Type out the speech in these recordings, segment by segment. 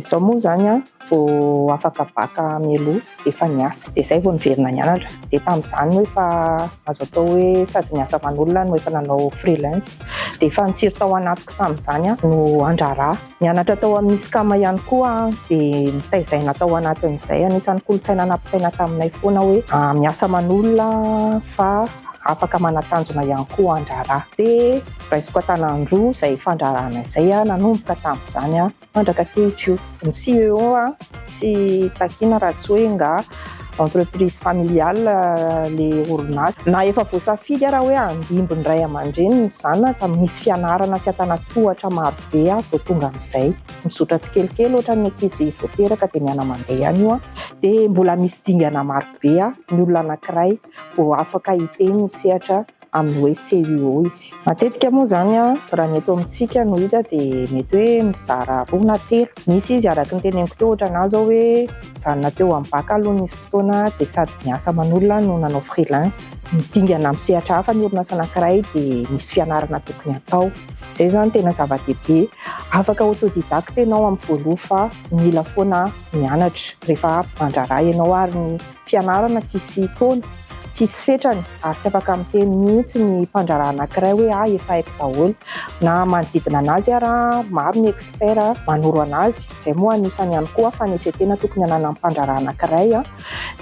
Izaho moa izany an, vao afaka bacc mialoha dia efa niasa, dia izay vao niverina nianatra, dia tamin'izany moa efa azo atao hoe sady niasa aman'olona no efa nanao freelance, dia efa nitsiry tao anatiko tamin'izany aho no handrara. Nianatra tao amin'ny ISCAM ihany koa aho dia notaizaina tao anatin'izay. Anisan'ny kolontsaina nampitaina taminay foana hoe ah, miasa aman'olona fa afaka manatanjona ihany koa an-draharaha. Dia raisiko an-tanan-droa izay fandraharahana izay nanomboka tamin'izany mandraka ankehitr'io. Ny CEO tsy takiana raha tsy hoe nga entreprise familiale ilay orinasa. Na efa voasafidy ara hoe handimby ny ray aman-dreny ny zanaka, misy fianarana sy an-tanan-tohatra maro. dia vao tonga amin'izay mizotra tsikelikely ohatran'ny ankizy vao teraka dia miana mandeha ihany io an, dia mbola misy dingana maro be an, ny olona anankiray vao afaka hiteny ny sehatra amin'ny hoe CUO izy. Matetika moa izany an, raha ny eto amintsika no hita dia mety hoe mizara roa na telo, misy izy araka ny teneniko teo ohatran'ny ahy izao hoe nijanona teo amin'ny bacc aloha nisy fotoana dia sady niasa manolona no nanao freelance, dingana amin'ny sehatra hafa ny orinasa anankiray dia misy fianarana tokony hatao. Izay izany tena zava-dehibe. Afaka autodidacte ianao amin'ny voaloha fa mila foana mianatra. Rehefa mandraharaha ianao ary ny fianarana tsisy taona, tsisy fetrany ary tsy afaka miteny mihitsy ny mpandraharaha anankiray hoe ahy efa haiko daholo. Na manodidina an'azy ara, maro ny expert manoro an'azy. Izay moa anisany ihany koa fanetren-tena tokony hananan'ny mpandraharaha anankiray.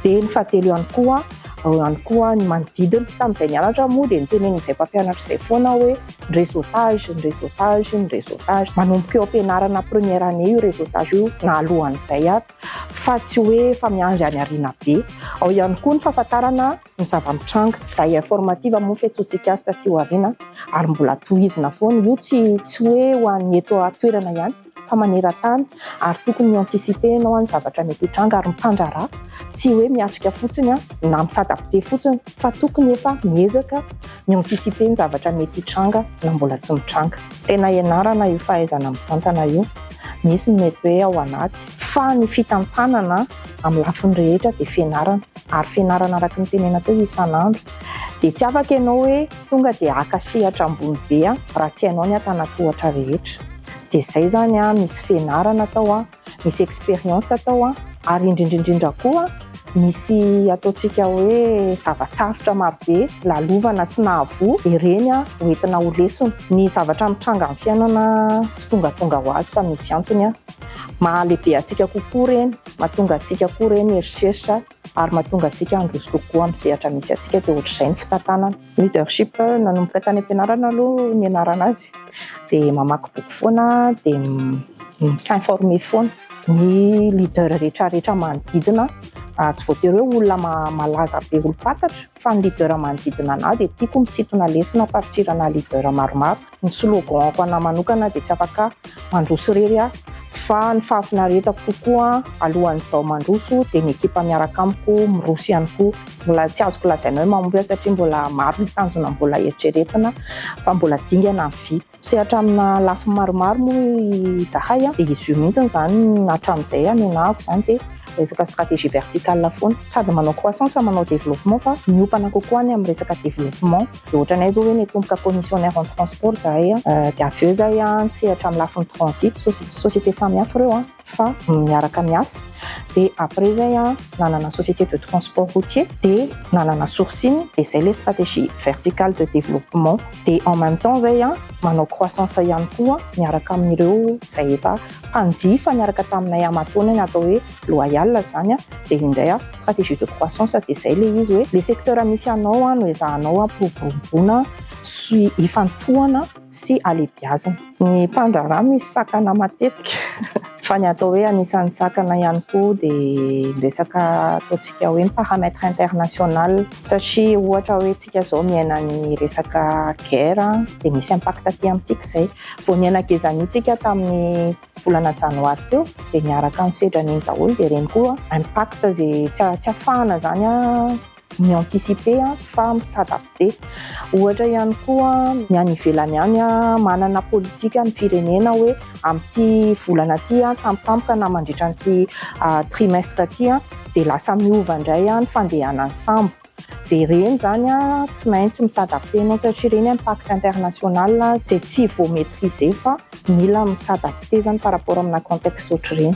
Dia ny fahatelo ihany koa, ao ihany koa ny manodidina. Tamin'izay nianatra moa dia nitenen'izay mpampianatra izay foana aho hoe. ny réseautage, ny réseautage, ny réseautage. Manomboka eo am-pianarana première année io réseautage io na alohan'izay ary fa tsy hoe efa miandry any aoriana be. Ao ihany koa ny fahafantarana ny zava-mitranga. Veille informative moa ny fiantsoantsika azy taty aoriana ary mbola tohizina foana. Io tsy tsy hoe ho an'ny eto an-toerana ihany. fa maneran-tany ary tokony mi-anticiper ianao amin'ny zavatra mety hitranga ary mipandraharaha, tsy hoe miatrika fotsiny na mi-s'adapter fotsiny fa tokony efa miezaka mi-anticiper ny zavatra mety hitranga na mbola tsy mitranga. Tena ianarana io fahaizana mitantana io, misy ny mety hoe ao anaty, fa ny fitantanana amin'ny lafiny rehetra dia fianarana ary fianarana araka ny tenena teo isan'andro dia tsy afaka ianao hoe. Tonga dia haka sehatra ambony be raha tsy hainao ny antanatohatra rehetra. Dia izay izany an, misy fianarana atao an, misy expérience atao an, ary indrindra indrindra koa misy ataontsika hoe zava-tsarotra maro be lalovana sy nahavoa, dia ireny ho entina ho lesona. Ny zavatra mitranga amin'ny fiainana tsy tongatonga ho azy fa misy antony an. Mahalehibe antsika kokoa ireny, mahatonga antsika koa ireny hieritreritra ary mahatonga antsika handroso kokoa amin'ny sehatra misy antsika dia ohatr'izay ny fitantanana. Leadership, nanomboka tany am-pianarana aloha nianarana azy dia mamaky boky foana dia mi-s'informer foana. Ny leader rehetra rehetra manodidina ahy, tsy voatery hoe olona malaza be olom-pantatra fa ny leader manodidina an'ahy dia tiako misintona lesona, amparitsirana leader maromaro. Ny slogan-ko anà manokana dia tsy afaka mandroso irery aho fa ny fahafinaretako kokoa alohan'izaho mandroso dia ny ekipa miaraka amiko miroso ihany koa. Mbola tsy azoko lazaina hoe mahomby aho satria mbola maro ny tanjona mbola heritreretina fa mbola dingana ny vita. Misehatra amina lafiny maromaro moa izahay dia izy io mihitsy izany no hatramin'izay anenahako izany dia resaka stratégie verticale foana. Sady manao croissance manao développement fa miompana kokoa ny amin'ny resaka développement. Dia ohatranay zao hoe nitomboka commissionnaire en transport zahay an, dia avy eo zahay an nisehatra amin'ny lafiny transit, société samy hafa ireo an fa miaraka miasa, dia après zay an nanana société de transport routier, dia nanana sourcing, dia zay ilay stratégie verticale de développement, dia en même temps zay an manao croissance ihany koa miaraka amin'ireo izay efa mpanjifa niaraka taminay aman-taonany atao hoe. loyal zany a, dia indray a stratégie de croissance dia izay ilay izy hoe ilay secteur misy anao a no ezahanao hampiroboroboana sy hifantohana sy halebiazina. Ny mpandraharaha misy sakana matetika fa ny atao hoe anisan'ny sakana ihany koa dia resaka ataontsika hoe paramètre international satria ohatra hoe tsika zao miaina ny resaka guerre dia misy impact aty amintsika izay vao niaina gezania tsika tamin'ny volana janoary teo dia niaraka ny sedra neny daholo dia ireny koa impact izay tsy tsy afahana izany mi anticiper fa mi s'adapter ohatra ihany koa ny any ivelany any manana politika ny firenena hoe amin'ity volana ity tampotampoka na mandritra an'ity trimestre ity dia lasa miova indray ny fandehanan'ny sambo dia ireny izany tsy maintsy mi-s'adapter ianao satria ireny impact international izay tsy vao maitriser fa mila mi-s'adapter izany par rapport amina contexte ohatr'ireny.